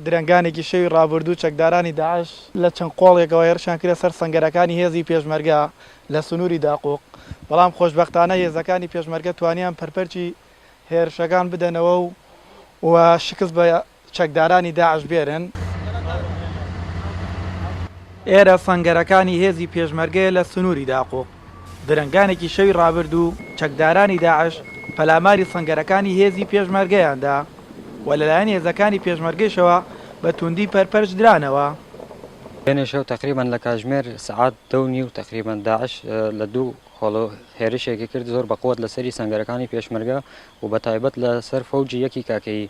درەنگانێکی شەوی ڕابردوو چەکدارانی داعش لە چەند قۆڵێکەوە هێرشیان کردە سەر سەنگەرەکانی هێزی پێشمەرگە لە سنووری داقوق، بەڵام خۆشبەختانە هێزەکانی پێشمەرگە توانیان پەرپەرچی هێرشەکان بدەنەوە و شکست بە چەکدارانی داعش بێرن. ئێرە سەنگەرەکانی هێزی پێشمەرگەیە لە سنووری داقوق. درەنگانێکی شەوی ڕابردوو چەکدارانی داعش پەلاماری سەنگەرەکانی هێزی پێشمەرگەیان دا و لەلایەن هێزەکانی پێشمەرگەیشەوە بە تووندی پەرپەرچ درانەوە. دوێنێ شەو تەقریبەن لە کاتژمێر سەعات دە و نیو تەقریبەن داعش لە دوو خۆڵە هێرشێکی کرد زۆر بە قوت لە سەری سەنگەرەکانی پێشمەرگە و بە تایبەت لە سەر فەوجی یەکی کاکەیی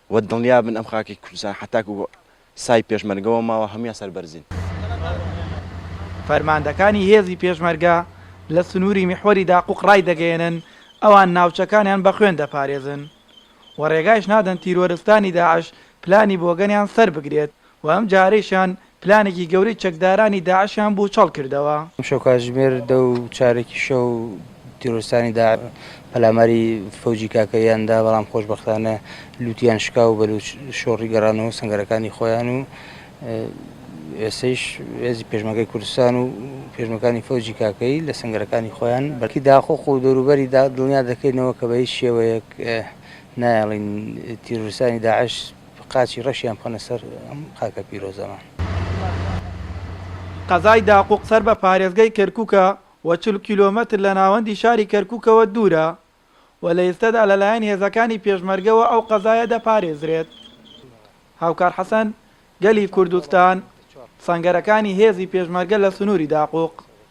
وە دڵنیا بن ئەم خاکەی کوردستان حەتاکو سای پێشمەرگەوە ماوە هەموویان سەربەرزین. فەرماندەکانی هێزی پێشمەرگە لە سنووری میحوەری داقوق ڕایدەگەیەنن ئەوان ناوچەکانیان بە خوێن دەپارێزن و ڕێگایش نادەن تیرۆرستانی داعش پلانی بۆگەنیان سەربگرێت و ئەم جارەیشیان پلانێکی گەورەی چەکدارانی داعشیان بوچەڵ کردەوە. ئەمشەو کاتژمێر دە و چارەکی شەو تیرۆرستانی داعش پەلاماری فەوجی کاکەییان دا، بەڵام خۆشبەختانە لووتیان شکا و بەلووچ شۆڕی گەڕانەوە سەنگەرەکانی خۆیان و ئێستەیش هێزی پێشمەرگەی کوردستان و پێشمەکانی فەوجی کاکەیی لە سەنگەرەکانی خۆیان بەرکی داخۆخ و دەوروبەری دا دڵنیا دەکەینەوە کە بە هیچ شێوەیەک نایەڵین تیرۆرستانی داعش قاچی ڕەشیان بخەنە سەر ئەم خاکە پیرۆزەمان. قەزای داقوق سەر بە پارێزگەی کەرکوکە و چل کیلۆمەتر لە ناوەندی شاری کەرکوکەوە دوورە و لە ئێستەدا لە لایەن هێزەکانی پێشمەرگەوە ئەو قەزایە دەپارێزرێت. هاوکار حەسەن، گەلی کوردستان، سەنگەرەکانی هێزی پێشمەرگە لە سنووری داقوق.